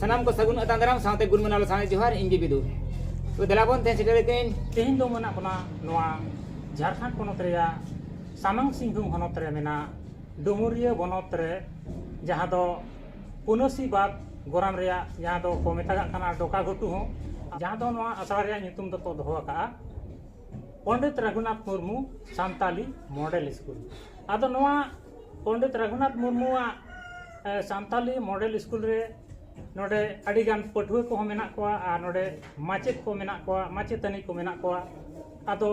ᱥᱟᱱᱟᱢ ᱠᱚ ᱥᱟᱹᱜᱩᱱ ᱟᱛᱟᱝ ᱫᱟᱨᱟᱢ ᱥᱟᱶᱛᱮ ᱜᱩᱱ ᱢᱟᱱᱟᱣ ᱥᱟᱶᱛᱮ ᱡᱚᱦᱟᱨ ᱤᱧ ᱜᱮ ᱵᱤᱫᱩ ᱛᱚ ᱫᱮᱞᱟ ᱵᱚᱱ ᱛᱮᱦᱮᱧ ᱥᱮᱴᱮᱨ ᱠᱟᱹᱧ ᱛᱮᱦᱮᱧ ᱫᱚ ᱢᱮᱱᱟᱜ ᱵᱚᱱᱟ ᱱᱚᱣᱟ ᱡᱷᱟᱲᱠᱷᱚᱸᱰ ᱯᱚᱱᱚᱛ ᱨᱮᱭᱟᱜ ᱥᱟᱢᱟᱝ ᱥᱤᱝᱵᱷᱩᱢ ᱦᱚᱱᱚᱛ ᱨᱮ ᱢᱮᱱᱟᱜ ᱰᱩᱢᱩᱨᱤᱭᱟᱹ ᱵᱚᱱᱚᱛ ᱨᱮ ᱡᱟᱦᱟᱸ ᱫᱚ ᱯᱩᱱᱟᱹᱥᱤ ᱵᱟᱫ ᱜᱚᱨᱟᱢ ᱨᱮᱭᱟᱜ ᱡᱟᱦᱟᱸ ᱫᱚ ᱠᱚ ᱢᱮᱛᱟᱜᱟᱜ ᱠᱟᱱᱟ ᱰᱚᱠᱟ ᱜᱷᱩᱴᱩ ᱦᱚᱸ ᱡᱟᱦᱟᱸ ᱫᱚ ᱱᱚᱣᱟ ᱟᱥᱲᱟ ᱨᱮᱭᱟᱜ ᱧᱩᱛᱩᱢ ᱫᱚᱠᱚ ᱫᱚᱦᱚ ᱟᱠᱟᱜᱼᱟ ᱯᱚᱱᱰᱤᱛ ᱨᱟᱹᱜᱷᱩᱱᱟᱛᱷ ᱢᱩᱨᱢᱩ ᱥᱟᱱᱛᱟᱞᱤ ᱢᱚᱰᱮᱞ ᱥᱠᱩᱞ ᱟᱫᱚ ᱱᱚᱣᱟ ᱯᱚᱱᱰᱤᱛ ᱨᱟᱹᱜᱷᱩᱱᱟᱛᱷ ᱢᱩᱨᱢᱩᱣᱟᱜ ᱥᱟᱱᱛᱟᱞᱤ ᱢᱚᱰᱮᱞ ᱥᱠᱩᱞ ᱨᱮ ᱱᱚᱰᱮ ᱟᱹᱰᱤ ᱜᱟᱱ ᱯᱟᱹᱴᱷᱩᱣᱟᱹ ᱠᱚᱦᱚᱸ ᱢᱮᱱᱟᱜ ᱠᱚᱣᱟ ᱟᱨ ᱱᱚᱰᱮ ᱢᱟᱪᱮᱫ ᱠᱚ ᱢᱮᱱᱟᱜ ᱠᱚᱣᱟ ᱢᱟᱪᱮᱛᱟᱹᱱᱤ ᱠᱚ ᱢᱮᱱᱟᱜ ᱠᱚᱣᱟ ᱟᱫᱚ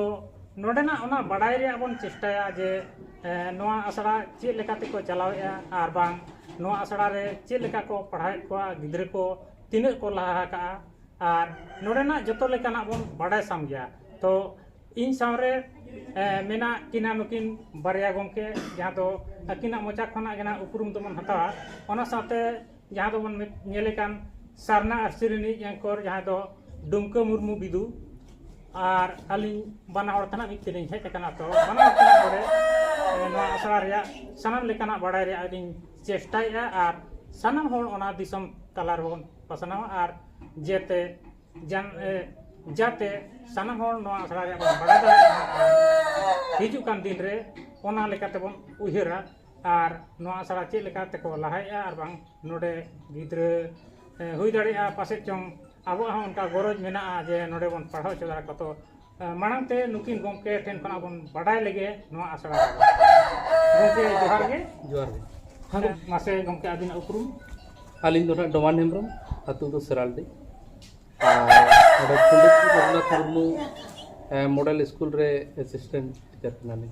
ᱱᱚᱰᱮᱱᱟᱜ ᱚᱱᱟ ᱵᱟᱰᱟᱭ ᱨᱮᱭᱟᱜ ᱵᱚᱱ ᱪᱮᱥᱴᱟᱭᱟ ᱡᱮ ᱱᱚᱣᱟ ᱟᱥᱲᱟ ᱪᱮᱫ ᱞᱮᱠᱟ ᱛᱮᱠᱚ ᱪᱟᱞᱟᱣᱮᱜᱼᱟ ᱟᱨ ᱵᱟᱝ ᱱᱚᱣᱟ ᱟᱥᱲᱟ ᱨᱮ ᱪᱮᱫ ᱞᱮᱠᱟ ᱠᱚ ᱯᱟᱲᱦᱟᱣᱮᱫ ᱠᱚᱣᱟ ᱜᱤᱫᱽᱨᱟᱹ ᱠᱚ ᱛᱤᱱᱟᱹᱜ ᱠᱚ ᱞᱟᱦᱟ ᱟᱠᱟᱜᱼᱟ ᱟᱨ ᱱᱚᱰᱮᱱᱟᱜ ᱡᱚᱛᱚ ᱞᱮᱠᱟᱱᱟᱜ ᱵᱚᱱ ᱵᱟᱰᱟᱭ ᱥᱟᱢ ᱜᱮᱭᱟ ᱛᱚ ᱤᱧ ᱥᱟᱶᱨᱮ ᱢᱮᱱᱟᱜ ᱠᱤᱱᱟ ᱱᱩᱠᱤᱱ ᱵᱟᱨᱭᱟ ᱜᱚᱢᱠᱮ ᱡᱟᱦᱟᱸ ᱫᱚ ᱟᱹᱠᱤᱱᱟᱜ ᱢᱚᱪᱟ ᱠᱷᱚᱱᱟᱜ ᱜᱮ ᱱᱟᱜ ᱩᱯᱨᱩᱢ ᱫᱚᱵᱚᱱ ᱦᱟᱛᱟᱣᱟ ᱚᱱᱟ ᱥᱟᱶᱛᱮ ᱡᱟᱦᱟᱸ ᱫᱚᱵᱚᱱ ᱧᱮᱞᱮ ᱠᱟᱱ ᱥᱟᱨᱱᱟ ᱟᱨ ᱥᱤᱨᱤ ᱨᱤᱱᱤᱡ ᱮᱝᱠᱚᱨ ᱡᱟᱦᱟᱸᱭ ᱫᱚ ᱰᱩᱢᱠᱟᱹ ᱢᱩᱨᱢᱩ ᱵᱤᱫᱩ ᱟᱨ ᱟᱹᱞᱤᱧ ᱵᱟᱱᱟ ᱦᱚᱲ ᱛᱮᱱᱟᱜ ᱢᱤᱫ ᱛᱮᱞᱤᱧ ᱦᱮᱡ ᱟᱠᱟᱱᱟ ᱛᱚ ᱵᱟᱱᱟ ᱦᱚᱲ ᱛᱮᱱᱟᱜ ᱱᱚᱰᱮ ᱱᱚᱣᱟ ᱟᱥᱲᱟ ᱨᱮᱭᱟᱜ ᱥᱟᱱᱟᱢ ᱞᱮᱠᱟᱱᱟᱜ ᱵᱟᱲᱟᱭ ᱨᱮᱭᱟᱜ ᱞᱤᱧ ᱪᱮᱥᱴᱟᱭᱮᱜᱼᱟ ᱟᱨ ᱥᱟᱱᱟᱢ ᱦᱚᱲ ᱚᱱᱟ ᱫᱤᱥᱚᱢ ᱛᱟᱞᱟ ᱨᱮᱵᱚᱱ ᱯᱟᱥᱱᱟᱣᱟ ᱟᱨ ᱡᱟᱛᱮ ᱡᱟᱛᱮ ᱥᱟᱱᱟᱢ ᱦᱚᱲ ᱱᱚᱣᱟ ᱟᱥᱲᱟ ᱨᱮᱭᱟᱜ ᱵᱚᱱ ᱵᱟᱲᱟᱭ ᱫᱟᱲᱮᱭᱟᱜᱼᱟ ᱦᱤᱡᱩᱜ ᱠᱟᱱ ᱫᱤᱱ ᱨᱮ ᱚᱱᱟ ᱞᱮᱠᱟ ᱛᱮᱵᱚᱱ ᱩᱭᱦᱟᱹᱨᱟ ᱟᱨ ᱱᱚᱣᱟ ᱟᱥᱲᱟ ᱪᱮᱫ ᱞᱮᱠᱟ ᱛᱮᱠᱚ ᱞᱟᱦᱟᱭᱮᱜᱼᱟ ᱟᱨ ᱵᱟᱝ ᱱᱚᱰᱮ ᱜᱤᱫᱽᱨᱟᱹ ᱦᱩᱭ ᱫᱟᱲᱮᱭᱟᱜᱼᱟ ᱯᱟᱥᱮᱡ ᱪᱚᱝ ᱟᱵᱚᱣᱟᱜ ᱦᱚᱸ ᱚᱱᱠᱟ ᱜᱚᱨᱚᱡᱽ ᱢᱮᱱᱟᱜᱼᱟ ᱡᱮ ᱱᱚᱰᱮ ᱵᱚᱱ ᱯᱟᱲᱦᱟᱣ ᱦᱚᱪᱚ ᱫᱟᱲᱮ ᱠᱚᱣᱟ ᱛᱚ ᱢᱟᱲᱟᱝ ᱛᱮ ᱱᱩᱠᱤᱱ ᱜᱚᱢᱠᱮ ᱴᱷᱮᱱ ᱠᱷᱚᱱᱟᱜ ᱵᱚᱱ ᱵᱟᱰᱟᱭ ᱞᱮᱜᱮ ᱱᱚᱣᱟ ᱟᱥᱲᱟ ᱨᱮ ᱜᱚᱢᱠᱮ ᱡᱚᱦᱟᱨ ᱜᱮ ᱡᱚᱦᱟᱨ ᱜᱮ ᱦᱮᱸ ᱢᱟᱥᱮ ᱜᱚᱢᱠᱮ ᱟᱹᱵᱤᱱᱟᱜ ᱩᱯᱨᱩᱢ ᱟᱹᱞᱤᱧ ᱫᱚ ᱱᱟᱦᱟᱜ ᱰᱚᱢᱟᱱ ᱦᱮᱢᱵᱨᱚᱢ ᱟᱹᱛᱩ ᱫᱚ ᱥᱮᱨᱟᱞᱰᱤ ᱟᱨ ᱱᱚᱰᱮ ᱯᱚᱱᱰᱤᱛ ᱨᱚᱜᱷᱩᱱᱟᱛᱷ ᱢᱩᱨᱢᱩ ᱢᱚᱰᱮᱞ ᱥᱠᱩᱞ ᱨᱮ ᱮᱥᱤᱥᱴᱮᱱᱴ ᱴᱤᱪᱟᱨ ᱠᱟᱱᱟᱞᱤᱧ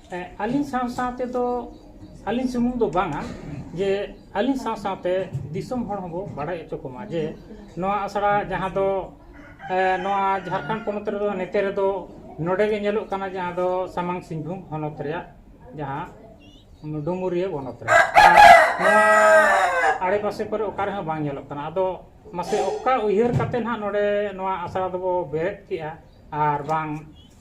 ᱟᱹᱞᱤᱧ ᱥᱟᱶ ᱥᱟᱶ ᱛᱮᱫᱚ ᱟᱹᱞᱤᱧ ᱥᱩᱢᱩᱝ ᱫᱚ ᱵᱟᱝᱟ ᱡᱮ ᱟᱹᱞᱤᱧ ᱥᱟᱶ ᱥᱟᱶᱛᱮ ᱫᱤᱥᱚᱢ ᱦᱚᱲ ᱦᱚᱸᱵᱚ ᱵᱟᱲᱟᱭ ᱦᱚᱪᱚ ᱠᱚᱢᱟ ᱡᱮ ᱱᱚᱣᱟ ᱟᱥᱲᱟ ᱡᱟᱦᱟᱸ ᱫᱚ ᱱᱚᱣᱟ ᱡᱷᱟᱲᱠᱷᱚᱸᱰ ᱯᱚᱱᱚᱛ ᱨᱮᱫᱚ ᱱᱚᱛᱮ ᱨᱮᱫᱚ ᱱᱚᱰᱮ ᱜᱮ ᱧᱮᱞᱚᱜ ᱠᱟᱱᱟ ᱡᱟᱦᱟᱸ ᱫᱚ ᱥᱟᱢᱟᱝ ᱥᱤᱝᱵᱷᱩᱢ ᱦᱚᱱᱚᱛ ᱨᱮᱭᱟᱜ ᱡᱟᱦᱟᱸ ᱰᱩᱢᱩᱨᱤᱭᱟᱹ ᱵᱚᱱᱚᱛ ᱨᱮ ᱱᱚᱣᱟ ᱟᱲᱮ ᱯᱟᱥᱮ ᱠᱚᱨᱮ ᱚᱠᱟ ᱨᱮᱦᱚᱸ ᱵᱟᱝ ᱧᱮᱞᱚᱜ ᱠᱟᱱᱟ ᱟᱫᱚ ᱢᱟᱥᱮ ᱚᱠᱟ ᱩᱭᱦᱟᱹᱨ ᱠᱟᱛᱮᱫ ᱱᱟᱦᱟᱜ ᱱᱚᱰᱮ ᱱᱚᱣᱟ ᱟᱥᱲᱟ ᱫᱚᱵᱚ ᱵᱮᱨᱮᱫ ᱠᱮᱜᱼᱟ ᱟᱨ ᱵᱟᱝ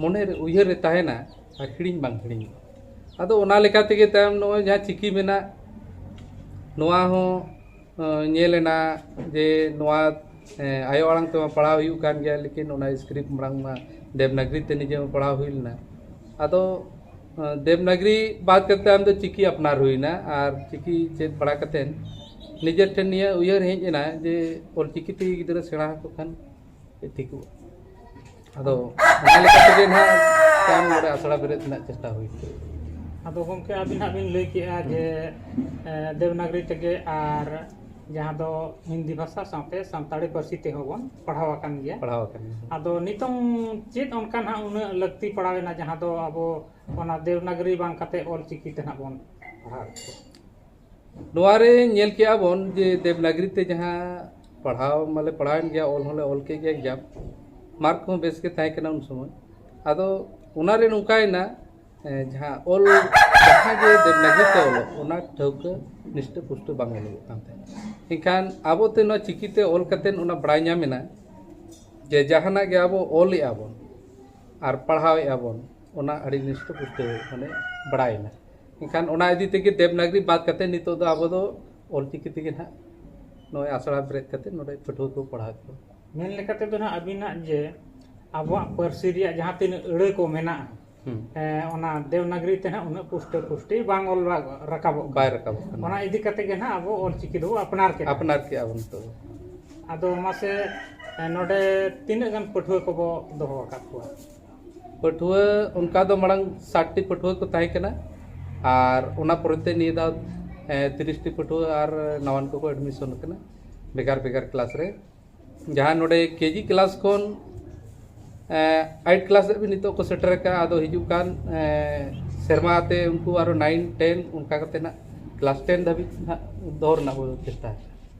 ᱢᱚᱱᱮ ᱨᱮ ᱩᱭᱦᱟᱹᱨ ᱨᱮ ᱛᱟᱦᱮᱱᱟ ᱟᱨ ᱦᱤᱲᱤᱧ ᱵᱟᱝ ᱦᱤᱲᱤᱧᱚᱜᱼᱟ ᱟᱫᱚ ᱚᱱᱟ ᱞᱮᱠᱟ ᱛᱮᱜᱮ ᱛᱟᱭᱚᱢ ᱱᱚᱜᱼᱚᱭ ᱡᱟᱦᱟᱸ ᱪᱤᱠᱤ ᱢᱮᱱᱟᱜ ᱱᱚᱣᱟ ᱦᱚᱸ ᱧᱮᱞ ᱮᱱᱟ ᱡᱮ ᱱᱚᱣᱟ ᱟᱭᱳ ᱟᱲᱟᱝ ᱛᱮᱢᱟ ᱯᱟᱲᱦᱟᱣ ᱦᱩᱭᱩᱜ ᱠᱟᱱ ᱜᱮᱭᱟ ᱞᱮᱠᱤᱱ ᱚᱱᱟ ᱥᱠᱨᱤᱯᱴ ᱢᱟᱲᱟᱝ ᱢᱟ ᱫᱮᱵᱽᱱᱟᱜᱽᱨᱤ ᱛᱮ ᱱᱤᱡᱮ ᱦᱚᱸ ᱯᱟᱲᱦᱟᱣ ᱦᱩᱭ ᱞᱮᱱᱟ ᱟᱫᱚ ᱫᱮᱵᱽᱱᱟᱜᱽᱨᱤ ᱵᱟᱫ ᱠᱟᱛᱮ ᱟᱢ ᱫᱚ ᱪᱤᱠᱤ ᱟᱯᱱᱟᱨ ᱦᱩᱭᱱᱟ ᱟᱨ ᱪᱤᱠᱤ ᱪᱮᱫ ᱵᱟᱲᱟ ᱠᱟᱛᱮ ᱱᱤᱡᱮ ᱴᱷᱮᱱ ᱱᱤᱭᱟᱹ ᱩᱭᱦᱟᱹᱨ ᱦᱮᱡ ᱮᱱᱟ ᱡᱮ ᱚᱞ ᱪᱤᱠᱤ ᱛᱮ ᱜᱤᱫᱽᱨᱟᱹ ᱥᱮᱬᱟ ᱟᱠᱚ ᱠᱷᱟᱱ ᱴᱷᱤᱠᱚᱜᱼᱟ ᱟᱫᱚ ᱚᱱᱟ ᱞᱮᱠᱟ ᱛᱮᱜᱮ ᱱᱟᱦᱟᱜ ᱛᱟᱭᱚᱢ ᱱᱚᱰᱮ ᱟᱥᱲᱟ ᱵᱮᱨᱮᱫ ᱨᱮᱱᱟᱜ ᱪᱮᱥᱴᱟ ᱦᱩᱭ ᱠᱚᱜᱼᱟ ᱟᱫᱚ ᱜᱚᱢᱠᱮ ᱟᱹᱵᱤᱱ ᱦᱟᱸᱜ ᱵᱤᱱ ᱞᱟᱹᱭ ᱠᱮᱜᱼᱟ ᱡᱮ ᱫᱮᱵᱽᱱᱟᱜᱽᱨᱤ ᱛᱮᱜᱮ ᱟᱨ ᱡᱟᱦᱟᱸ ᱫᱚ ᱦᱤᱱᱫᱤ ᱵᱷᱟᱥᱟ ᱥᱟᱶᱛᱮ ᱥᱟᱱᱛᱟᱲᱤ ᱯᱟᱹᱨᱥᱤ ᱛᱮᱦᱚᱸ ᱵᱚᱱ ᱯᱟᱲᱦᱟᱣ ᱟᱠᱟᱱ ᱜᱮᱭᱟ ᱯᱟᱲᱦᱟᱣ ᱟᱠᱟᱱ ᱜᱮᱭᱟ ᱟᱫᱚ ᱱᱤᱛᱚᱝ ᱪᱮᱫ ᱚᱱᱠᱟ ᱱᱟᱦᱟᱜ ᱩᱱᱟᱹᱜ ᱞᱟᱹᱠᱛᱤ ᱯᱟᱲᱟᱣᱮᱱᱟ ᱡᱟᱦᱟᱸ ᱫᱚ ᱟᱵᱚ ᱚᱱᱟ ᱫᱮᱵᱽᱱᱟᱜᱽᱨᱤ ᱵᱟᱝ ᱠᱟᱛᱮᱫ ᱚᱞ ᱪᱤᱠᱤ ᱛᱮ ᱱᱟᱦᱟᱜ ᱵᱚᱱ ᱯᱟᱲᱦᱟᱣᱮᱫ ᱠᱚᱣᱟ ᱱᱚᱣᱟ ᱨᱮ ᱧᱮᱞ ᱠᱮᱜᱼᱟ ᱵᱚᱱ ᱡᱮ ᱫᱮᱵᱽᱱᱟᱜᱽᱨᱤ ᱛᱮ ᱡᱟᱦᱟᱸ ᱯᱟᱲᱦᱟᱣ ᱢᱟᱞᱮ ᱯᱟᱲᱦᱟᱣᱮᱱ ᱜᱮᱭᱟ ᱚᱞ ᱦᱚᱸᱞᱮ ᱚᱞ ᱠᱮᱜ ᱜᱮᱭᱟ ᱮᱠᱡᱟᱢ ᱢᱟᱨᱠ ᱠᱚᱦᱚᱸ ᱵᱮᱥ ᱜᱮ ᱛᱟᱦᱮᱸ ᱠᱟᱱᱟ ᱩᱱ ᱥᱚᱢᱚᱭ ᱟᱫᱚ ᱚᱱᱟ ᱨᱮ ᱱᱚᱝᱠᱟᱭᱮᱱᱟ ᱡᱟᱦᱟᱸ ᱚᱞ ᱡᱟᱦᱟᱸ ᱜᱮ ᱫᱮᱵᱽᱱᱟᱜᱽᱨᱤ ᱛᱮ ᱚᱞᱚᱜ ᱚᱱᱟ ᱴᱷᱟᱹᱣᱠᱟᱹ ᱱᱤᱥᱴᱟᱹ ᱯᱩᱥᱴᱟᱹ ᱵᱟᱝ ᱚᱞᱚᱜᱚᱜ ᱠᱟᱱ ᱛᱟᱦᱮᱸᱫ ᱮᱱᱠᱷᱟᱱ ᱟᱵᱚ ᱛᱮ ᱱᱚᱣᱟ ᱪᱤᱠᱤ ᱛᱮ ᱚᱞ ᱠᱟᱛᱮ ᱚᱱᱟ ᱵᱟᱲᱟᱭ ᱧᱟᱢ ᱮᱱᱟ ᱡᱮ ᱡᱟᱦᱟᱱᱟᱜ ᱜᱮ ᱟᱵᱚ ᱚᱞᱮᱜᱼᱟ ᱵᱚᱱ ᱟᱨ ᱯᱟᱲᱦᱟᱣᱮᱜᱼᱟ ᱵᱚᱱ ᱚᱱᱟ ᱟᱹᱰᱤ ᱱᱤᱥᱴᱟᱹ ᱯᱩᱥᱴᱟᱹ ᱢᱟᱱᱮ ᱵᱟᱲᱟᱭᱮᱱᱟ ᱮᱱᱠᱷᱟᱱ ᱚᱱᱟ ᱤᱫᱤ ᱛᱮᱜᱮ ᱫᱮᱵᱽᱱᱟᱜᱽᱨᱤ ᱵᱟᱫ ᱠᱟᱛᱮᱫ ᱱᱤᱛᱚᱜ ᱫᱚ ᱟᱵᱚ ᱫᱚ ᱚᱞ ᱪᱤᱠᱤ ᱛᱮᱜᱮ ᱱᱟᱦᱟᱜ ᱱᱚᱜᱼᱚᱸᱭ ᱟᱥᱲᱟ ᱵᱮᱨᱮᱫ ᱠᱟᱛᱮᱫ ᱱᱚᱰᱮ ᱯᱟᱹᱴᱷᱩᱣᱟᱹ ᱠᱚ ᱯᱟᱲᱦᱟᱣᱮᱫ ᱠᱚᱣᱟ ᱢᱮᱱ ᱞᱮᱠᱟ ᱛᱮᱫᱚ ᱱᱟᱦᱟᱜ ᱟᱹᱵᱤᱱᱟᱜ ᱡᱮ ᱟᱵᱚᱣᱟᱜ ᱯᱟᱹᱨᱥᱤ ᱨᱮᱭᱟᱜ ᱡᱟᱦᱟᱸ ᱛᱤᱱᱟᱹᱜ ᱟᱹᱲᱟᱹ ᱠᱚ ᱢᱮᱱᱟᱜᱼᱟ ᱚᱱᱟ ᱫᱮᱵᱽᱱᱟᱜᱽᱨᱤ ᱛᱮ ᱱᱟᱦᱟᱜ ᱩᱱᱟᱹᱜ ᱯᱩᱥᱴᱟᱹ ᱯᱩᱥᱴᱤ ᱵᱟᱝ ᱚᱞ ᱨᱟᱠᱟᱵᱚᱜ ᱠᱟᱱᱟ ᱵᱟᱭ ᱨᱟᱠᱟᱵᱚᱜ ᱠᱟᱱᱟ ᱚᱱᱟ ᱤᱫᱤ ᱠᱟᱛᱮᱫ ᱜᱮ ᱱᱟᱦᱟᱜ ᱟᱵᱚ ᱚᱞ ᱪᱤᱠᱤ ᱫᱚᱵᱚᱱ ᱟᱯᱱᱟᱨ ᱠᱮᱫᱟ ᱟᱯᱱᱟᱨ ᱠᱮᱫᱼᱟ ᱵᱚᱱ ᱱᱤᱛᱚᱜ ᱫᱚ ᱟᱫᱚ ᱢᱟᱥᱮ ᱱᱚᱰᱮ ᱛᱤᱱᱟᱹᱜ ᱜᱟᱱ ᱯᱟᱹᱴᱷᱩᱣᱟᱹ ᱠᱚᱵᱚᱱ ᱫᱚᱦᱚ ᱟᱠᱟᱫ ᱠᱚᱣᱟ ᱯᱟᱹᱴᱷᱩᱣᱟᱹ ᱚᱱᱠᱟ ᱫᱚ ᱢᱟᱲᱟᱝ ᱥᱟᱴ ᱴᱤ ᱯᱟᱹᱴᱷᱩᱣᱟᱹ ᱠᱚ ᱛᱟᱦᱮᱸ ᱠᱟᱱᱟ ᱟᱨ ᱚᱱᱟ ᱯᱚᱨᱮ ᱛᱮ ᱱᱤᱭᱟᱹ ᱫᱷᱟᱣ ᱛᱤᱨᱤᱥ ᱴᱤ ᱯᱟᱹᱴᱷᱩᱣᱟᱹ ᱟᱨ ᱱᱟᱣᱟᱱ ᱠᱚᱠᱚ ᱮᱰᱢᱤᱥᱚᱱ ᱠᱟᱱᱟ ᱵᱷᱮᱜᱟᱨ ᱵᱷᱮᱜᱟᱨ ᱠᱞᱟᱥ ᱨᱮ ᱡᱟᱦᱟᱸ ᱱᱚᱰᱮ ᱠᱮᱡᱤ ᱠᱞᱟᱥ ᱠᱷᱚᱱ ᱟᱭᱤᱴ ᱠᱞᱟᱥ ᱫᱷᱟᱹᱵᱤᱡ ᱱᱤᱛᱚᱜ ᱠᱚ ᱥᱮᱴᱮᱨ ᱟᱠᱟᱫᱼᱟ ᱟᱫᱚ ᱦᱤᱡᱩᱜ ᱠᱟᱱ ᱥᱮᱨᱢᱟ ᱛᱮ ᱩᱱᱠᱩ ᱟᱨᱚ ᱱᱟᱭᱤᱱ ᱴᱮᱱ ᱚᱱᱠᱟ ᱠᱟᱛᱮᱫ ᱦᱟᱸᱜ ᱠᱞᱟᱥ ᱴᱮᱱ ᱫᱷᱟᱹᱵᱤᱡ ᱦᱟᱸᱜ ᱫᱚᱦᱚ ᱨᱮᱱᱟᱜ ᱵᱚᱱ ᱪᱮᱥᱴᱟᱭᱟ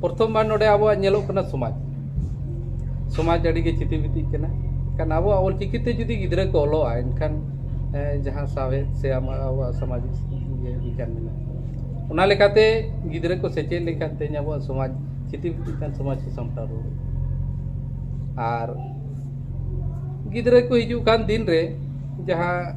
ᱯᱨᱚᱛᱷᱚᱢ ᱵᱟᱨ ᱱᱚᱰᱮ ᱟᱵᱚᱣᱟᱜ ᱧᱮᱞᱚᱜ ᱠᱟᱱᱟ ᱥᱚᱢᱟᱡᱽ ᱥᱚᱢᱟᱡᱽ ᱟᱹᱰᱤ ᱜᱮ ᱪᱤᱛᱤ ᱵᱤᱛᱤᱜ ᱠᱟᱱᱟ ᱮᱱᱠᱷᱟᱱ ᱟᱵᱚᱣᱟᱜ ᱚᱞ ᱪᱤᱠᱤ ᱛᱮ ᱡᱩᱫᱤ ᱜᱤᱫᱽᱨᱟᱹ ᱠᱚ ᱚᱞᱚᱜᱼᱟ ᱮᱱᱠᱷᱟᱱ ᱡᱟᱦᱟᱸ ᱥᱟᱶᱦᱮᱫ ᱥᱮ ᱟᱢᱟᱜ ᱟᱵᱚᱣᱟᱜ ᱥᱟᱢᱟᱡᱤᱠ ᱤᱭᱟᱹ ᱵᱤᱜᱽᱜᱟᱱ ᱢᱮᱱᱟᱜᱼᱟ ᱚᱱᱟ ᱞᱮᱠᱟᱛᱮ ᱜᱤᱫᱽᱨᱟᱹ ᱠᱚ ᱥᱮᱪᱮᱫ ᱞᱮᱱᱠᱷᱟᱱ ᱛᱮᱦᱮᱧ ᱟᱵᱚᱣᱟᱜ ᱥᱚᱢᱟᱡᱽ ᱪᱤᱛᱤ ᱵᱤᱛᱤᱜ ᱠᱟᱱ ᱥᱚᱢᱟᱡᱽ ᱠᱚ ᱥᱟᱢᱴᱟᱣ ᱨᱩᱣᱟᱹᱲᱚᱜᱼᱟ ᱟᱨ ᱜᱤᱫᱽᱨᱟᱹ ᱠᱚ ᱦᱤᱡᱩᱜ ᱠᱟᱱ ᱫᱤᱱ ᱨᱮ ᱡᱟᱦᱟᱸ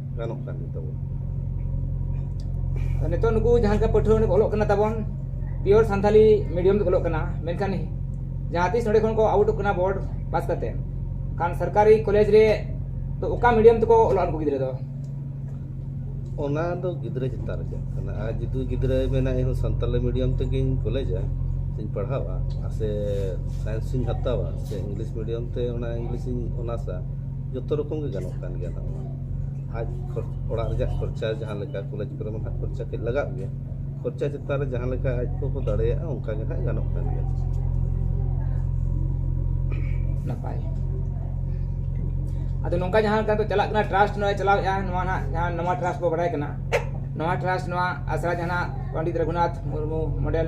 ᱜᱟᱱᱚᱜ ᱠᱟᱱ ᱜᱮ ᱛᱟᱵᱚᱱ ᱱᱤᱛᱚᱜ ᱱᱩᱠᱩ ᱡᱟᱦᱟᱸ ᱞᱮᱠᱟ ᱯᱟᱹᱴᱷᱩᱣᱟᱹ ᱱᱚᱰᱮ ᱚᱞᱚᱜ ᱠᱟᱱᱟ ᱛᱟᱵᱚᱱ ᱯᱤᱭᱳᱨ ᱥᱟᱱᱛᱟᱞᱤ ᱢᱤᱰᱤᱭᱟᱢ ᱛᱮ ᱚᱞᱚᱜ ᱠᱟᱱᱟ ᱢᱮᱱᱠᱷᱟᱱ ᱡᱟᱦᱟᱸ ᱛᱤᱥ ᱱᱚᱰᱮ ᱠᱷᱚᱱ ᱠᱚ ᱟᱣᱩᱴᱚᱜ ᱠᱟᱱᱟ ᱵᱳᱨᱰ ᱯᱟᱥ ᱠᱟᱛᱮ ᱠᱷᱟᱱ ᱥᱚᱨᱠᱟᱨᱤ ᱠᱚᱞᱮᱡᱽ ᱨᱮ ᱛᱚ ᱚᱠᱟ ᱢᱤᱰᱤᱭᱟᱢ ᱛᱮᱠᱚ ᱚᱞᱚᱜ ᱩᱱᱠᱩ ᱜᱤᱫᱽᱨᱟᱹ ᱫᱚ ᱚᱱᱟ ᱫᱚ ᱜᱤᱫᱽᱨᱟᱹ ᱪᱮᱛᱟᱱ ᱨᱮ ᱪᱟᱞᱟᱜ ᱠᱟᱱᱟ ᱟᱨ ᱡᱩᱫᱤ ᱜᱤᱫᱽᱨᱟᱹ ᱢᱮᱱᱟ ᱤᱧ ᱥᱟᱱᱛᱟᱞᱤ ᱢᱤᱰᱤᱭᱟᱢ ᱛᱮᱜᱮᱧ ᱠᱚᱞᱮᱡᱟ ᱥᱮᱧ ᱯᱟᱲᱦᱟᱣᱟ ᱟᱨ ᱥᱮ ᱥᱟᱭᱮᱱᱥ ᱤᱧ ᱦᱟᱛᱟᱣᱟ ᱥᱮ ᱤᱝᱞᱤᱥ ᱢᱤᱰᱤᱭᱟᱢ ᱛᱮ ᱚᱱᱟ ᱤᱝᱞᱤᱥ ᱤᱧ ᱚᱱᱟᱨᱥᱟ ᱡᱚᱛᱚ ᱨᱚᱠᱚᱢ ᱜᱮ ᱜᱟᱱᱚᱜ ᱠᱟᱱ ᱜᱮᱭᱟ ᱱᱚᱣᱟ ᱟᱡ ᱚᱲᱟᱜ ᱨᱮᱭᱟᱜ ᱠᱷᱚᱨᱪᱟ ᱡᱟᱦᱟᱸ ᱞᱮᱠᱟ ᱠᱚᱞᱮᱡᱽ ᱠᱚᱨᱮ ᱢᱟ ᱦᱟᱸᱜ ᱠᱷᱚᱨᱪᱟ ᱠᱟᱹᱡ ᱞᱟᱜᱟᱜ ᱜᱮᱭᱟ ᱠᱷᱚᱨᱪᱟ ᱪᱮᱛᱟᱱ ᱨᱮ ᱡᱟᱦᱟᱸ ᱞᱮᱠᱟ ᱟᱡ ᱠᱚ ᱠᱚ ᱫᱟᱲᱮᱭᱟᱜᱼᱟ ᱚᱱᱠᱟ ᱜᱮ ᱦᱟᱸᱜ ᱜᱟᱱᱚᱜ ᱠᱟᱱ ᱜᱮᱭᱟ ᱱᱟᱯᱟᱭ ᱟᱫᱚ ᱱᱚᱝᱠᱟ ᱡᱟᱦᱟᱸ ᱞᱮᱠᱟ ᱫᱚ ᱪᱟᱞᱟᱜ ᱠᱟᱱᱟ ᱴᱨᱟᱥᱴ ᱱᱚᱣᱟ ᱪᱟᱞᱟᱣᱮᱫᱼᱟ ᱱᱚᱣᱟ ᱱᱟᱜ ᱡᱟᱦᱟᱸ ᱱᱚᱣᱟ ᱴᱨᱟᱥᱴ ᱵᱚ ᱵᱟᱲᱟᱭ ᱠᱟᱱᱟ ᱱᱚᱣᱟ ᱴᱨᱟᱥᱴ ᱱᱚᱣᱟ ᱟᱥᱲᱟ ᱡᱟᱦᱟᱸ ᱯᱚᱱᱰᱤᱛ ᱨᱚᱜᱷᱩᱱᱟᱛᱷ ᱢᱩᱨᱢᱩ ᱢᱚᱰᱮᱞ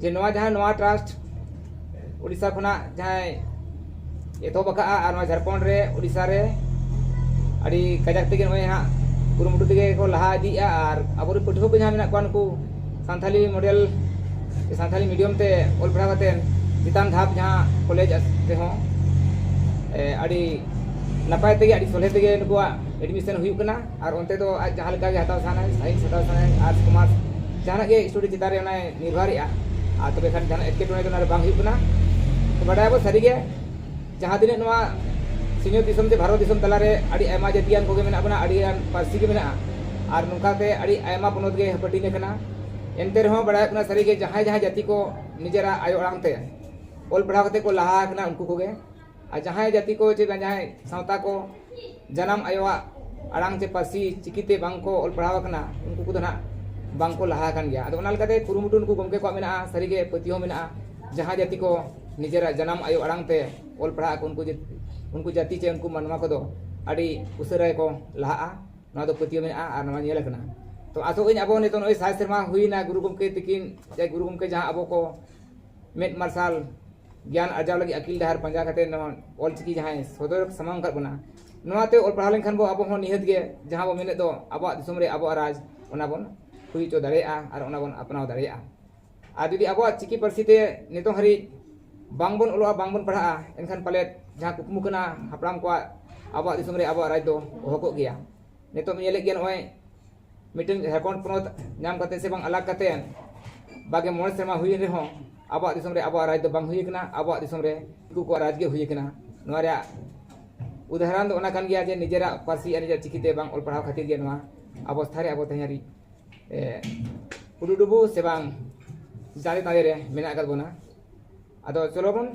ᱡᱮ ᱱᱚᱣᱟ ᱡᱟᱦᱟᱸ ᱱᱚᱣᱟ ᱴᱨᱟᱥᱴ ᱳᱰᱤᱥᱟ ᱠᱷᱚᱱᱟᱜ ᱡᱟᱦᱟᱸᱭ ᱮᱛᱚᱦᱚᱵ ᱟᱠᱟᱫᱼᱟ ᱟᱨ ᱱᱚᱣᱟ ᱡᱷᱟᱲᱠᱷᱚᱸᱰ ᱨᱮ ᱳᱰᱤᱥᱟ ᱨᱮ ᱟᱹᱰᱤ ᱠᱟᱡᱟᱠ ᱛᱮᱜᱮ ᱱᱚᱜᱼᱚᱭ ᱦᱟᱸᱜ ᱠᱩᱨᱩᱢᱩᱴᱩ ᱛᱮᱜᱮ ᱠᱚ ᱞᱟᱦᱟ ᱤᱫᱤᱭᱮᱫᱼᱟ ᱟᱨ ᱟᱵᱚ ᱨᱮᱱ ᱯᱟᱹᱴᱷᱩᱣᱟᱹ ᱠᱚ ᱡᱟᱦᱟᱸᱭ ᱢᱮᱱᱟᱜ ᱠᱚᱣᱟ ᱱᱩᱠᱩ ᱥᱟᱱᱛᱷᱟᱞᱤ ᱢᱚᱰᱮᱞ ᱥᱮ ᱥᱟᱱᱛᱷᱟᱞᱤ ᱢᱤᱰᱤᱭᱟᱢ ᱛᱮ ᱚᱞ ᱯᱟᱲᱦᱟᱣ ᱠᱟᱛᱮᱫ ᱪᱮᱛᱟᱱ ᱫᱷᱟᱯ ᱡᱟᱦᱟᱸ ᱠᱚᱞᱮᱡᱽ ᱨᱮᱦᱚᱸ ᱟᱹᱰᱤ ᱱᱟᱯᱟᱭ ᱛᱮᱜᱮ ᱟᱹᱰᱤ ᱥᱚᱞᱦᱮ ᱛᱮᱜᱮ ᱱᱩᱠᱩᱣᱟᱜ ᱮᱰᱢᱤᱥᱚᱱ ᱦᱩᱭᱩᱜ ᱠᱟᱱᱟ ᱟᱨ ᱚᱱᱛᱮ ᱫᱚ ᱟᱡ ᱡᱟᱦᱟᱸ ᱞᱮᱠᱟᱜᱮ ᱦᱟᱛᱟᱣ ᱥᱟᱱᱟᱭ ᱥᱟᱭᱮᱱᱥ ᱦᱟᱛᱟᱣ ᱥᱟᱱᱟᱭ ᱟᱨᱴᱥ ᱠᱚᱢᱟᱨᱥ ᱡᱟᱦᱟᱱᱟᱜ ᱜᱮ ᱥᱴᱟᱰᱤ ᱪᱮᱛᱟᱱ ᱨᱮ ᱚᱱᱟᱭ ᱱᱤᱨᱵᱷᱚᱨᱮᱜᱼᱟ ᱟᱨ ᱛᱚᱵᱮ ᱠᱷᱟᱱ ᱡᱟᱦᱟᱱᱟᱜ ᱮᱴᱠᱮᱴᱚᱬᱮ ᱫᱚ ᱚᱱᱟᱨᱮ ᱵᱟᱝ ᱦᱩᱭᱩᱜ ᱠᱟᱱᱟ ᱛᱚ ᱵᱟᱰᱟᱭᱟᱵᱚᱱ ᱥᱟᱹᱨᱤᱜᱮ ᱡᱟᱦᱟᱸ ᱛᱤᱱᱟᱹᱜ ᱱᱚᱣᱟ ᱥᱤᱧᱚᱛ ᱫᱤᱥᱚᱢ ᱥᱮ ᱵᱷᱟᱨᱚᱛ ᱫᱤᱥᱚᱢ ᱛᱟᱞᱟᱨᱮ ᱟᱹᱰᱤ ᱟᱭᱢᱟ ᱡᱟᱹᱛᱤᱭᱟᱱ ᱠᱚᱜᱮ ᱢᱮᱱᱟᱜ ᱵᱚᱱᱟ ᱟᱹᱰᱤ ᱜᱟᱱ ᱯᱟᱹᱨᱥᱤ ᱜᱮ ᱢᱮᱱᱟᱜᱼᱟ ᱟᱨ ᱱᱚᱝᱠᱟᱛᱮ ᱟᱹᱰᱤ ᱟᱭᱢᱟ ᱯᱚᱱᱚᱛ ᱜᱮ ᱦᱟᱹᱯᱟᱹᱴᱤᱧ ᱟᱠᱟᱱᱟ ᱮᱱᱛᱮ ᱨᱮᱦᱚᱸ ᱵᱟᱲᱟᱭᱚᱜ ᱠᱟᱱᱟ ᱥᱟᱹᱨᱤᱜᱮ ᱡᱟᱦᱟᱸᱭ ᱡᱟᱦᱟᱸᱭ ᱡᱟᱹᱛᱤ ᱠᱚ ᱱᱤᱡᱮᱨᱟᱜ ᱟᱭᱳ ᱟᱲᱟᱝ ᱛᱮ ᱚᱞ ᱯᱟᱲᱦᱟᱣ ᱠᱟᱛᱮ ᱠᱚ ᱞᱟᱦᱟ ᱟᱠᱟᱱᱟ ᱩᱱᱠᱩ ᱠᱚᱜᱮ ᱟᱨ ᱡᱟᱦᱟᱸᱭ ᱡᱟᱹᱛᱤ ᱠᱚ ᱪᱮ ᱡᱟᱦᱟᱸᱭ ᱥᱟᱶᱛᱟ ᱠᱚ ᱡᱟᱱᱟᱢ ᱟᱭᱳᱣᱟᱜ ᱟᱲᱟᱝ ᱪᱮ ᱯᱟᱹᱨᱥᱤ ᱪᱤᱠᱤ ᱛᱮ ᱵᱟᱝ ᱠᱚ ᱚᱞ ᱯᱟᱲᱦᱟᱣ ᱟᱠᱟᱱᱟ ᱩᱱᱠᱩ ᱠᱚᱫᱚ ᱱᱟᱦᱟᱜ ᱵᱟᱝ ᱠᱚ ᱞᱟᱦᱟ ᱟᱠᱟᱱ ᱜᱮᱭᱟ ᱟᱫᱚ ᱚᱱᱟ ᱞᱮᱠᱟᱛᱮ ᱠᱩᱨᱩᱢᱩᱴᱩ ᱱᱩᱠᱩ ᱜᱚᱢᱠᱮ ᱠᱚᱣᱟᱜ ᱢᱮᱱᱟᱜᱼᱟ ᱥᱟᱹᱨᱤ ᱜᱮ ᱯᱟᱹᱛᱭᱟᱹᱣ ᱢᱮᱱᱟᱜᱼᱟ ᱡᱟᱦᱟᱸ ᱡᱟᱹᱛᱤ ᱠᱚ ᱱᱤᱡᱮᱨᱟᱜ ᱡᱟᱱᱟᱢ ᱟᱭᱳ ᱟᱲᱟᱝ ᱛᱮ ᱚᱞ ᱯᱟᱲᱦᱟᱜ ᱟᱠᱚ ᱩᱱᱠᱩ ᱩᱱᱠᱩ ᱡᱟᱹᱛᱤ ᱪᱮ ᱩᱱᱠᱩ ᱢᱟᱱᱣᱟ ᱠᱚᱫᱚ ᱟᱹᱰᱤ ᱩᱥᱟᱹᱨᱟ ᱜᱮᱠᱚ ᱞᱟᱦᱟᱜᱼᱟ ᱱᱚᱣᱟ ᱫᱚ ᱯᱟᱹᱛᱭᱟᱹᱣ ᱢᱮᱱᱟᱜᱼᱟ ᱟᱨ ᱱᱚᱣᱟ ᱧᱮᱞ ᱟᱠᱟᱱᱟ ᱛᱚ ᱟᱥᱚᱜ ᱟᱹᱧ ᱟᱵᱚ ᱱᱤᱛᱚᱜ ᱱᱚᱜᱼᱚᱭ ᱥᱟᱭ ᱥᱮᱨᱢᱟ ᱦᱩᱭᱱᱟ ᱜᱩᱨᱩ ᱜᱚᱢᱠᱮ ᱛᱤᱠᱤᱱ ᱪᱮ ᱜᱩᱨᱩ ᱜᱚᱢᱠᱮ ᱡᱟᱦᱟᱸ ᱟᱵᱚ ᱠᱚ ᱢᱮᱫ ᱢᱟᱨᱥᱟᱞ ᱜᱮᱭᱟᱱ ᱟᱨᱡᱟᱣ ᱞᱟᱹᱜᱤᱫ ᱟᱹᱠᱤᱞ ᱰᱟᱦᱟᱨ ᱯᱟᱸᱡᱟ ᱠᱟᱛᱮ ᱱᱚᱣᱟ ᱚᱞ ᱪᱤᱠᱤ ᱡᱟᱦᱟᱸᱭ ᱥᱚᱫᱚᱨ ᱥᱟᱢᱟᱝ ᱟᱠᱟᱫ ᱵᱚᱱᱟ ᱱᱚᱣᱟᱛᱮ ᱚᱞ ᱯᱟᱲᱦᱟᱣ ᱞᱮᱱᱠᱷᱟᱱ ᱵᱚ ᱟᱵᱚ ᱦᱚᱸ ᱱᱤᱦᱟᱹᱛ ᱜᱮ ᱡᱟᱦᱟᱸ ᱵᱚ ᱢᱮᱱᱮᱫ ᱫᱚ ᱟᱵᱚᱣᱟᱜ ᱫᱤᱥᱚᱢ ᱨᱮ ᱟᱵᱚᱣᱟᱜ ᱨᱟᱡᱽ ᱚᱱᱟ ᱵᱚᱱ ᱦᱩᱭ ᱦᱚᱪᱚ ᱫᱟᱲᱮᱭᱟᱜᱼᱟ ᱟᱨ ᱚᱱᱟ ᱵᱚᱱ ᱟᱯᱱᱟᱣ ᱫᱟᱲᱮᱭᱟᱜᱼᱟ ᱟᱨ ᱡᱩᱫᱤ ᱟᱵᱚᱣᱟᱜ ᱪᱤᱠᱤ ᱯᱟᱹᱨᱥᱤ ᱛᱮ ᱱᱤᱛᱚᱜ ᱦᱟᱹᱨᱤᱡ ᱵᱟᱝ ᱵᱚᱱ ᱚᱞᱚᱜᱼᱟ ᱵᱟᱝ ᱵᱚᱱ ᱯᱟᱲᱦᱟᱜᱼᱟ ᱮᱱᱠᱷᱟᱱ ᱯᱟᱞᱮᱫ ᱡᱟᱦᱟᱸ ᱠᱩᱠᱢᱩ ᱠᱟᱱᱟ ᱦᱟᱯᱲᱟᱢ ᱠᱚᱣᱟᱜ ᱟᱵᱚᱣᱟᱜ ᱫᱤᱥᱚᱢ ᱨᱮ ᱟᱵᱚᱣᱟᱜ ᱨᱟᱡᱽ ᱫᱚ ᱚᱦᱚ ᱠᱚᱜ ᱜᱮᱭᱟ ᱱᱤᱛᱚᱜ ᱧᱮᱞᱮᱫ ᱜᱮᱭᱟ ᱱᱚᱜᱼᱚᱭ ᱢᱤᱫᱴᱮᱱ ᱡᱷᱟᱲᱠᱷᱚᱸᱰ ᱯᱚᱱᱚᱛ ᱧᱟᱢ ᱠᱟᱛᱮ ᱥᱮ ᱵᱟᱝ ᱟᱞᱟᱜᱽ ᱠᱟᱛᱮ ᱵᱟᱜᱮ ᱢᱚᱬᱮ ᱥᱮᱨᱢᱟ ᱦᱩᱭᱮᱱ ᱨᱮᱦᱚᱸ ᱟᱵᱚᱣᱟᱜ ᱫᱤᱥᱚᱢ ᱨᱮ ᱟᱵᱚᱣᱟᱜ ᱨᱟᱡᱽ ᱫᱚ ᱵᱟᱝ ᱦᱩᱭ ᱟᱠᱟᱱᱟ ᱟᱵᱚᱣᱟᱜ ᱫᱤᱥᱚᱢ ᱨᱮ ᱫᱤᱠᱩ ᱠᱚᱣᱟᱜ ᱨᱟᱡᱽ ᱜᱮ ᱦᱩᱭ ᱟᱠᱟᱱᱟ ᱱᱚᱣᱟ ᱨᱮᱭᱟᱜ ᱩᱫᱟᱦᱚᱨᱚᱱ ᱫᱚ ᱚᱱᱟ ᱠᱟᱱ ᱜᱮᱭᱟ ᱡᱮ ᱱᱤᱡᱮᱨᱟᱜ ᱯᱟᱹᱨᱥᱤ ᱟᱨ ᱱᱤᱡᱮᱨᱟᱜ ᱪᱤᱠᱤᱛᱮ ᱵᱟᱝ ᱚᱞ ᱯᱟᱲᱦᱟᱣ ᱠᱷᱟᱹᱛᱤᱨ ᱜᱮ ᱱᱚᱣᱟ ᱚᱵᱚᱥᱛᱷᱟ ᱨᱮ ᱟᱵᱚ ᱛᱮᱦᱮᱧ ᱦᱟᱹᱨᱤᱡ ᱩᱰᱩ ᱰᱩᱵᱩ ᱥᱮ ᱵᱟᱝ ᱫᱟᱨᱮ ᱫᱟᱨᱮ ᱨᱮ ᱢᱮᱱᱟᱜ ᱟᱠᱟᱫ ᱵᱚᱱᱟ ᱟᱫᱚ ᱪᱚᱞᱚ ᱵᱚᱱ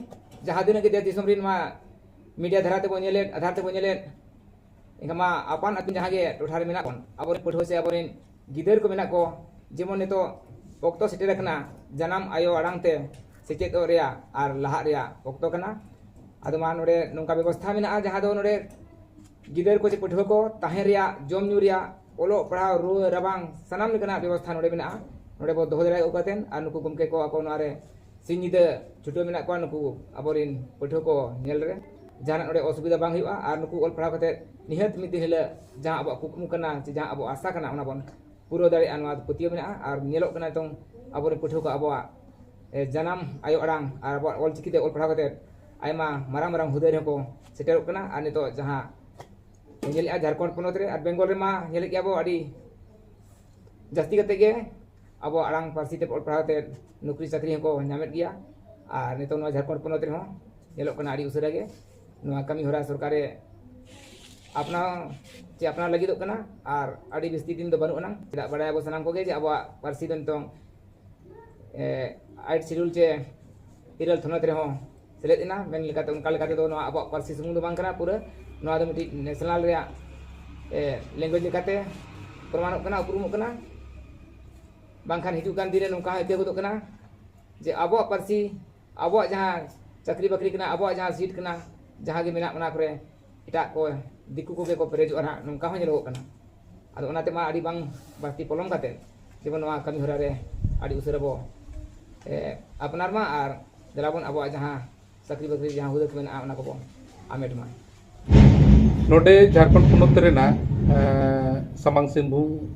ᱡᱟᱦᱟᱸ ᱛᱤᱱᱟᱹᱜ ᱜᱮ ᱫᱮᱥ ᱫᱤᱥᱚᱢ ᱨᱮ ᱱᱚᱣᱟ ᱢᱤᱰᱤᱭᱟ ᱫᱷᱟᱨᱟ ᱛᱮᱵᱚᱱ ᱧᱮᱞᱮᱫ ᱟᱫᱷᱟᱨ ᱛᱮᱵᱚᱱ ᱧᱮᱞᱮᱫ ᱮᱱᱠᱷᱟᱱ ᱢᱟ ᱟᱯᱟᱱ ᱟᱹᱯᱤᱱ ᱡᱟᱦᱟᱸ ᱜᱮ ᱴᱚᱴᱷᱟ ᱨᱮ ᱢᱮᱱᱟᱜ ᱵᱚᱱ ᱟᱵᱚᱨᱮᱱ ᱯᱟᱹᱴᱷᱩᱣᱟᱹ ᱥᱮ ᱟᱵᱚᱨᱮᱱ ᱜᱤᱫᱟᱹᱨ ᱠᱚ ᱢᱮᱱᱟᱜ ᱠᱚ ᱡᱮᱢᱚᱱ ᱱᱤᱛᱚᱜ ᱚᱠᱛᱚ ᱥᱮᱴᱮᱨ ᱟᱠᱟᱱᱟ ᱡᱟᱱᱟᱢ ᱟᱭᱳ ᱟᱲᱟᱝ ᱛᱮ ᱥᱮᱪᱮᱫᱚᱜ ᱨᱮᱭᱟᱜ ᱟᱨ ᱞᱟᱦᱟᱜ ᱨᱮᱭᱟᱜ ᱚᱠᱛᱚ ᱠᱟᱱᱟ ᱟᱫᱚ ᱢᱟ ᱱᱚᱰᱮ ᱱᱚᱝᱠᱟ ᱵᱮᱵᱚᱥᱛᱷᱟ ᱢᱮᱱᱟᱜᱼᱟ ᱡᱟᱦᱟᱸ ᱫᱚ ᱱᱚᱰᱮ ᱜᱤᱫᱟᱹᱨ ᱠᱚ ᱥᱮ ᱯᱟᱹᱴᱷᱩᱣᱟᱹ ᱠᱚ ᱛᱟᱦᱮᱸ ᱨᱮᱭᱟᱜ ᱡᱚᱢ ᱧᱩ ᱨᱮᱭᱟᱜ ᱚᱞᱚᱜ ᱯᱟᱲᱦᱟᱣ ᱨᱩᱣᱟᱹ ᱨᱟᱵᱟᱝ ᱥᱟᱱᱟᱢ ᱞᱮᱠᱟᱱᱟᱜ ᱵᱮᱵᱚᱥᱛᱷᱟ ᱱᱚᱰᱮ ᱢᱮᱱᱟᱜᱼᱟ ᱱᱚᱰᱮ ᱵᱚ ᱫᱚᱦᱚ ᱫᱟᱲᱮᱭᱟᱠᱚ ᱠᱟᱛᱮᱫ ᱟᱨ ᱱᱩᱠᱩ ᱜᱚᱢᱠᱮ ᱠᱚ ᱟᱠᱚ ᱱᱚᱣᱟ ᱨᱮ ᱥᱤᱧ ᱧᱤᱫᱟᱹ ᱪᱷᱩᱴᱟᱹᱣ ᱢᱮᱱᱟᱜ ᱠᱚᱣᱟ ᱱᱩᱠᱩ ᱟᱵᱚᱨᱮᱱ ᱯᱟᱹᱴᱷᱩᱣᱟᱹ ᱠᱚ ᱧᱮᱞ ᱨᱮ ᱡᱟᱦᱟᱱᱟᱜ ᱱᱚᱰᱮ ᱚᱥᱩᱵᱤᱫᱷᱟ ᱵᱟᱝ ᱦᱩᱭᱩᱜᱼᱟ ᱟᱨ ᱱᱩᱠᱩ ᱚᱞ ᱯᱟᱲᱦᱟᱣ ᱠᱟᱛᱮ ᱱᱤᱦᱟᱹᱛ ᱢᱤᱫ ᱫᱤᱱ ᱦᱤᱞᱳᱜ ᱡᱟᱦᱟᱸ ᱟᱵᱚᱣᱟᱜ ᱠᱩᱠᱢᱩ ᱠᱟᱱᱟ ᱥᱮ ᱡᱟᱦᱟᱸ ᱟᱵᱚᱣᱟᱜ ᱟᱥᱟ ᱠᱟᱱᱟ ᱚᱱᱟ ᱵᱚᱱ ᱯᱩᱨᱟᱹᱣ ᱫᱟᱲᱮᱭᱟᱜᱼᱟ ᱱᱚᱣᱟ ᱯᱟᱹᱛᱭᱟᱹᱣ ᱢᱮᱱᱟᱜᱼᱟ ᱟᱨ ᱧᱮᱞᱚᱜ ᱠᱟᱱᱟ ᱱᱤᱛᱚᱝ ᱟᱵᱚᱨᱮᱱ ᱯᱟᱹᱴᱷᱩᱣᱟᱹ ᱠᱚ ᱟᱵᱚᱣᱟᱜ ᱡᱟᱱᱟᱢ ᱟᱭᱳ ᱟᱲᱟᱝ ᱟᱨ ᱟᱵᱚᱣᱟᱜ ᱚᱞ ᱪᱤᱠᱤᱛᱮ ᱚᱞ ᱯᱟᱲᱦᱟᱣ ᱠᱟᱛᱮ ᱟᱭᱢᱟ ᱢᱟᱨᱟᱝ ᱢᱟᱨᱟᱝ ᱦᱩᱫᱟᱹ ᱨᱮᱦᱚᱸ ᱠᱚ ᱥᱮᱴᱮᱨᱚᱜ ᱠᱟᱱᱟ ᱟᱨ ᱱᱤᱛᱚᱜ ᱡᱟᱦᱟᱸ ᱧᱮᱞᱮᱫᱼᱟ ᱡᱷᱟᱲᱠᱷᱚᱸᱰ ᱯᱚᱱᱚᱛ ᱨᱮ ᱟᱨ ᱵᱮᱝᱜᱚᱞ ᱨᱮᱢᱟ ᱧᱮᱞᱮᱫ ᱜᱮᱭᱟ ᱵᱚ ᱟᱹᱰᱤ ᱡᱟᱹᱥᱛᱤ ᱠᱟᱛᱮ ᱜᱮ ᱟᱵᱚᱣᱟᱜ ᱟᱲᱟᱝ ᱯᱟᱹᱨᱥᱤ ᱛᱮ ᱚᱞ ᱯᱟᱲᱦᱟᱣ ᱛᱮ ᱱᱩᱠᱨᱤ ᱪᱟᱹᱠᱨᱤ ᱦᱚᱸᱠᱚ ᱧᱟᱢᱮᱫ ᱜᱮᱭᱟ ᱟᱨ ᱱᱤᱛᱚᱜ ᱱᱚᱣᱟ ᱡᱷᱟᱲᱠᱷᱚᱸᱰ ᱯᱚᱱᱚᱛ ᱨᱮᱦᱚᱸ ᱧᱮᱞᱚᱜ ᱠᱟᱱᱟ ᱟᱹᱰᱤ ᱩᱥᱟᱹᱨᱟ ᱜᱮ ᱱᱚᱣᱟ ᱠᱟᱹᱢᱤ ᱦᱚᱨᱟ ᱥᱚᱨᱠᱟᱨᱮ ᱟᱯᱱᱟᱣ ᱪᱮ ᱟᱯᱱᱟᱣ ᱞᱟᱹᱜᱤᱫᱚᱜ ᱠᱟᱱᱟ ᱟᱨ ᱟᱹᱰᱤ ᱵᱤᱥᱛᱤ ᱫᱤᱱ ᱫᱚ ᱵᱟᱹᱱᱩᱜ ᱟᱱᱟᱝ ᱪᱮᱫᱟᱜ ᱵᱟᱲᱟᱭᱟᱵᱚ ᱥᱟᱱᱟᱢ ᱠᱚᱜᱮ ᱡᱮ ᱟᱵᱚᱣᱟᱜ ᱯᱟᱹᱨᱥᱤ ᱫᱚ ᱱᱤᱛᱚᱝ ᱟᱭᱤᱴ ᱥᱤᱰᱩᱞ ᱪᱮ ᱤᱨᱟᱹᱞ ᱛᱷᱚᱱᱚᱛ ᱨᱮᱦᱚᱸ ᱥᱮᱞᱮᱫ ᱮᱱᱟ ᱢᱮᱱ ᱞᱮᱠᱟᱛᱮ ᱚᱱᱠᱟ ᱞᱮᱠᱟ ᱛᱮᱫᱚ ᱱᱚᱣᱟ ᱟᱵᱚᱣᱟᱜ ᱯᱟᱹᱨᱥᱤ ᱥᱩᱢᱩᱝ ᱫᱚ ᱵᱟᱝ ᱠᱟᱱᱟ ᱯᱩᱨᱟᱹ ᱱᱚᱣᱟ ᱫᱚ ᱢᱤᱫᱴᱤᱡ ᱱᱮᱥᱱᱟᱞ ᱨᱮᱭᱟᱜ ᱞᱮᱝᱜᱩᱭᱮᱡᱽ ᱞᱮᱠᱟᱛᱮ ᱯᱨᱚᱢᱟᱱᱚᱜ ᱠᱟᱱᱟ ᱩᱯᱨᱩᱢᱚᱜ ᱠᱟᱱᱟ ᱵᱟᱝᱠᱷᱟᱱ ᱦᱤᱡᱩᱜ ᱠᱟᱱ ᱫᱤᱱ ᱨᱮ ᱱᱚᱝᱠᱟ ᱦᱚᱸ ᱟᱹᱭᱠᱟᱹᱣ ᱜᱚᱫᱚᱜ ᱠᱟᱱᱟ ᱡᱮ ᱟᱵᱚᱣᱟᱜ ᱯᱟᱹᱨᱥᱤ ᱟᱵᱚᱣᱟᱜ ᱡᱟᱦᱟᱸ ᱪᱟᱹᱠᱨᱤ ᱵᱟᱹᱠᱨᱤ ᱠᱟᱱᱟ ᱟᱵᱚᱣᱟᱜ ᱡᱟᱦᱟᱸ ᱥᱤᱴ ᱠᱟᱱᱟ ᱡᱟᱦᱟᱸ ᱜᱮ ᱢᱮᱱᱟᱜ ᱚᱱᱟ ᱠᱚᱨᱮ ᱮᱴᱟᱜ ᱠᱚ ᱫᱤᱠᱩ ᱠᱚᱜᱮ ᱠᱚ ᱯᱮᱨᱮᱡᱚᱜᱼᱟ ᱱᱟᱦᱟᱜ ᱱᱚᱝᱠᱟ ᱦᱚᱸ ᱧᱮᱞᱚᱜᱚᱜ ᱠᱟᱱᱟ ᱟᱫᱚ ᱚᱱᱟᱛᱮ ᱢᱟ ᱟᱹᱰᱤ ᱵᱟᱝ ᱵᱟᱹᱲᱛᱤ ᱯᱚᱞᱚᱢ ᱠᱟᱛᱮᱫ ᱡᱮᱢᱚᱱ ᱱᱚᱣᱟ ᱠᱟᱹᱢᱤ ᱦᱚᱨᱟ ᱨᱮ ᱟᱹᱰᱤ ᱩᱥᱟᱹᱨᱟ ᱵᱚ ᱟᱯᱱᱟᱨ ᱢᱟ ᱟᱨ ᱫᱮᱞᱟ ᱵᱚᱱ ᱟᱵᱚᱣᱟᱜ ᱡᱟᱦᱟᱸ ᱪᱟᱹᱠᱨᱤ ᱵᱟᱹᱠᱨᱤ ᱡᱟᱦᱟᱸ ᱦᱩᱫᱟᱹ ᱠᱚ ᱢᱮᱱᱟᱜᱼᱟ ᱚᱱᱟ ᱠᱚᱵᱚ ᱟᱢᱮᱴ ᱢᱟ ᱱᱚᱰᱮ ᱡᱷᱟᱲᱠᱷᱚᱸᱰ ᱯᱚᱱᱚᱛ ᱨᱮᱱᱟᱜ ᱥᱟᱢᱟᱝ ᱥᱤᱝᱵᱷᱩᱢ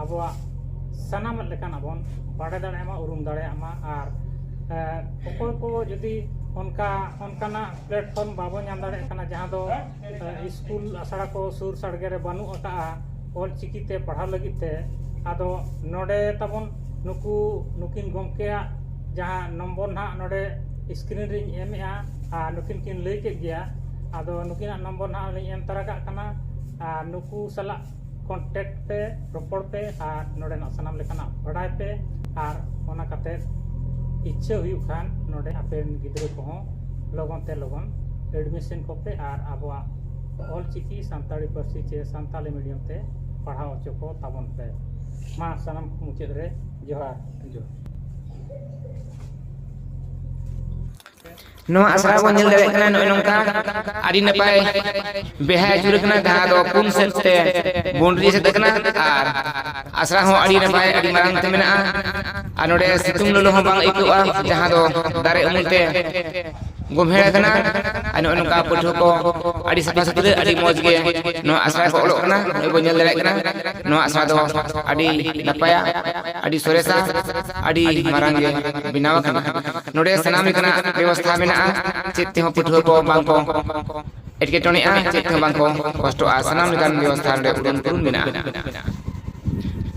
ᱟᱵᱚᱣᱟᱜ ᱥᱟᱱᱟᱢ ᱞᱮᱠᱟᱱᱟᱜ ᱵᱚᱱ ᱵᱟᱰᱟᱭ ᱫᱟᱲᱮᱭᱟᱜ ᱢᱟ ᱩᱨᱩᱢ ᱫᱟᱲᱮᱭᱟᱜ ᱢᱟ ᱟᱨ ᱚᱠᱚᱭ ᱠᱚ ᱡᱩᱫᱤ ᱚᱱᱠᱟ ᱚᱱᱠᱟᱱᱟᱜ ᱯᱞᱟᱴᱯᱷᱚᱨᱢ ᱵᱟᱵᱚ ᱧᱟᱢ ᱫᱟᱲᱮᱭᱟᱜ ᱠᱟᱱᱟ ᱡᱟᱦᱟᱸ ᱫᱚ ᱥᱠᱩᱞ ᱟᱥᱲᱟ ᱠᱚ ᱥᱩᱨ ᱥᱟᱰᱜᱮ ᱨᱮ ᱵᱟᱹᱱᱩᱜ ᱟᱠᱟᱫᱼᱟ ᱚᱞ ᱪᱤᱠᱤ ᱛᱮ ᱯᱟᱲᱦᱟᱣ ᱞᱟᱹᱜᱤᱫ ᱛᱮ ᱟᱫᱚ ᱱᱚᱰᱮ ᱛᱟᱵᱚᱱ ᱱᱩᱠᱩ ᱱᱩᱠᱤᱱ ᱜᱚᱢᱠᱮᱭᱟᱜ ᱡᱟᱦᱟᱸ ᱱᱚᱢᱵᱚᱨ ᱱᱟᱦᱟᱜ ᱱᱚᱰᱮ ᱥᱠᱨᱤᱱ ᱨᱤᱧ ᱮᱢᱮᱜᱼᱟ ᱟᱨ ᱱᱩᱠᱤᱱ ᱠᱤᱱ ᱞᱟᱹᱭ ᱠᱮᱫ ᱜᱮᱭᱟ ᱟᱫᱚ ᱱᱩᱠᱤᱱᱟᱜ ᱱᱚᱢᱵᱚᱨ ᱱᱟᱦᱟᱜ ᱞᱤᱧ ᱮᱢ ᱛᱟᱨᱟ ᱠᱟᱜ ᱠᱟᱱᱟ ᱟᱨ ᱱᱩᱠᱩ ᱥᱟᱞᱟᱜ ᱠᱚᱱᱴᱮᱠᱴ ᱯᱮ ᱨᱚᱯᱚᱲ ᱯᱮ ᱟᱨ ᱱᱚᱰᱮᱱᱟᱜ ᱥᱟᱱᱟᱢ ᱞᱮᱠᱟᱱᱟᱜ ᱵᱟᱰᱟᱭ ᱯᱮ ᱟᱨ ᱚᱱᱟ ᱠᱟᱛᱮ ᱤᱪᱪᱷᱟᱹ ᱦᱩᱭᱩᱜ ᱠᱷᱟᱱ ᱱᱚᱰᱮ ᱟᱯᱮ ᱜᱤᱫᱽᱨᱟᱹ ᱠᱚᱦᱚᱸ ᱞᱚᱜᱚᱱ ᱛᱮ ᱞᱚᱜᱚᱱ ᱮᱰᱢᱤᱥᱚᱱ ᱠᱚᱯᱮ ᱟᱨ ᱟᱵᱚᱣᱟᱜ ᱚᱞᱪᱤᱠᱤ ᱥᱟᱱᱛᱟᱲᱤ ᱯᱟᱹᱨᱥᱤ ᱪᱮ ᱥᱟᱱᱛᱟᱲᱤ ᱢᱤᱰᱤᱭᱟᱢ ᱛᱮ ᱯᱟᱲᱦᱟᱣ ᱦᱚᱪᱚ ᱠᱚ ᱛᱟᱵᱚᱱ ᱯᱮ ᱢᱟ ᱥᱟᱱᱟᱢ ᱢᱩᱪᱟᱹᱫ ᱨᱮ ᱡᱚᱦᱟᱨ ᱡᱚᱦᱟᱨ ᱱᱚᱣᱟ ᱟᱥᱲᱟ ᱨᱮ ᱵᱚᱱ ᱧᱮᱞ ᱫᱟᱲᱮᱭᱟᱜ ᱠᱟᱱᱟ ᱱᱚᱜᱼᱚᱭ ᱱᱚᱝᱠᱟ ᱟᱹᱰᱤ ᱱᱟᱯᱟᱭ ᱵᱮᱲᱦᱟᱭ ᱟᱹᱪᱩᱨ ᱟᱠᱟᱱᱟ ᱡᱟᱦᱟᱸ ᱫᱚ ᱯᱩᱱ ᱥᱮᱫ ᱛᱮ ᱵᱚᱱᱰᱨᱤ ᱮᱥᱮᱫ ᱟᱠᱟᱱᱟ ᱟᱨ ᱟᱥᱲᱟ ᱦᱚᱸ ᱟᱹᱰᱤ ᱱᱟᱯᱟᱭ ᱟᱹᱰᱤ ᱢᱟᱨᱟᱝ ᱛᱮ ᱢᱮᱱᱟᱜᱼᱟ ᱟᱨ ᱱᱚᱰᱮ ᱥᱤᱛᱩᱝ ᱞᱚᱞᱚ ᱦᱚᱸ ᱵᱟᱝ ᱟᱹᱭᱠᱟᱹᱜᱼᱟ ᱡᱟᱦᱟᱸ ᱫᱚ ᱫᱟᱨᱮ ᱩᱢᱩᱞ ᱛᱮ ᱜᱳᱢᱦᱮᱲ ᱟᱠᱟᱱᱟ ᱟᱨ ᱱᱚᱜᱼᱚᱭ ᱱᱚᱝᱠᱟ ᱯᱟᱹᱴᱷᱩᱣᱟᱹ ᱠᱚ ᱟᱹᱰᱤ ᱥᱟᱯᱷᱟ ᱥᱩᱛᱨᱟᱹ ᱟᱹᱰᱤ ᱢᱚᱡᱽ ᱜᱮ ᱱᱚᱣᱟ ᱟᱥᱲᱟ ᱨᱮᱠᱚ ᱚᱞᱚᱜ ᱠᱟᱱᱟ ᱱᱚᱜᱼᱚᱭ ᱵᱚᱱ ᱧᱮᱞ ᱫᱟᱲᱮᱭᱟᱜ ᱠᱟᱱᱟ ᱱᱚᱣᱟ ᱟᱥᱲᱟ ᱫᱚ ᱟᱹᱰᱤ ᱱᱟᱯᱟᱭᱟ ᱟᱹᱰᱤ ᱥᱚᱨᱮᱥᱟ ᱟᱹᱰᱤ ᱢᱟᱨᱟᱝ ᱜᱮ ᱵᱮᱱᱟᱣ ᱟᱠᱟᱱᱟ ᱱᱚᱰᱮ ᱥᱟᱱᱟᱢ ᱞᱮᱠᱟᱱᱟᱜ ᱵᱮᱵᱚᱥᱛᱷᱟ ᱢᱮᱱᱟᱜᱼᱟ ᱪᱮᱫ ᱛᱮᱦᱚᱸ ᱯᱟᱹᱴᱷᱩᱣᱟᱹ ᱠᱚ ᱵᱟᱝ ᱠᱚ ᱮᱴᱠᱮᱴᱚᱬᱮᱜᱼᱟ ᱪᱮᱫ ᱛᱮᱦᱚᱸ ᱵᱟᱝ ᱠᱚ ᱠᱚᱥᱴᱚᱜᱼᱟ ᱥᱟᱱᱟᱢ ᱞᱮᱠᱟᱱ ᱵᱮᱵᱚᱥᱛᱷᱟ ᱱᱚᱰᱮ ᱩᱰᱩᱝ ᱯᱩᱨᱩᱱ ᱢᱮᱱᱟᱜᱼᱟ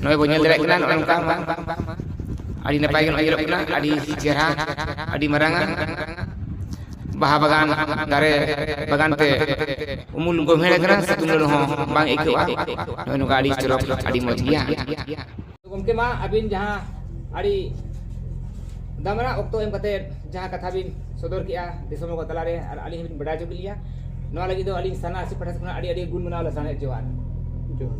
ᱱᱚᱜᱼᱚᱭ ᱵᱚᱱ ᱧᱮᱞ ᱫᱟᱲᱮᱭᱟᱜ ᱠᱟᱱᱟ ᱱᱚᱜᱼᱚᱭ ᱱᱚᱝᱠᱟ ᱟᱹᱰᱤ ᱱᱟᱯᱟᱭ ᱜᱮ ᱱᱚᱜᱼᱚᱭ ᱧᱮᱞᱚᱜ ᱠᱟᱱᱟ ᱟᱹᱰᱤ ᱪᱮᱦᱨᱟ ᱟᱹᱰᱤ ᱢᱟᱨᱟᱝ ᱟᱜ ᱵᱟᱦᱟ ᱵᱟᱜᱟᱱ ᱫᱟᱨᱮ ᱵᱟᱜᱟᱱ ᱛᱮ ᱩᱢᱩᱞ ᱜᱳᱵᱷᱮᱲ ᱟᱠᱟᱱᱟ ᱥᱤᱛᱩᱝ ᱞᱚᱞᱚ ᱦᱚᱸ ᱵᱟᱝ ᱟᱹᱭᱠᱟᱹᱜᱼᱟ ᱱᱚᱜᱼᱚᱭ ᱱᱚᱝᱠᱟ ᱟᱹᱰᱤ ᱪᱚᱨᱚᱠ ᱟᱹᱰᱤ ᱢᱚᱡᱽ ᱜᱮᱭᱟ ᱜᱚᱢᱠᱮ ᱢᱟ ᱟᱹᱵᱤᱱ ᱡᱟᱦᱟᱸ ᱟᱹᱰᱤ ᱫᱟᱢᱟᱱᱟᱜ ᱚᱠᱛᱚ ᱮᱢ ᱠᱟᱛᱮ ᱡᱟᱦᱟᱸ ᱠᱟᱛᱷᱟ ᱵᱤᱱ ᱥᱚᱫᱚᱨ ᱠᱮᱜᱼᱟ ᱫᱤᱥᱚᱢ ᱦᱚᱲ ᱠᱚ ᱛᱟᱞᱟᱨᱮ ᱟᱨ ᱟᱹᱞᱤᱧ ᱦᱚᱸᱵᱤᱱ ᱵᱟᱰᱟᱭ ᱦᱚᱪᱚ ᱠᱮᱫ ᱞᱤᱧᱟ ᱱᱚᱣᱟ ᱞᱟᱹᱜᱤᱫ ᱫᱚ ᱟᱹᱞᱤᱧ ᱥᱟᱱᱟ ᱟᱥᱤ ᱯᱟᱦᱴᱟ ᱠᱷᱚᱱᱟᱜ ᱟᱹᱰᱤ ᱟᱹᱰᱤ ᱜᱩᱱ ᱢᱟᱱᱟᱣ ᱞᱟᱥᱟᱲᱦᱮᱫ ᱡᱚᱦᱟᱨ ᱡᱚᱦᱟᱨ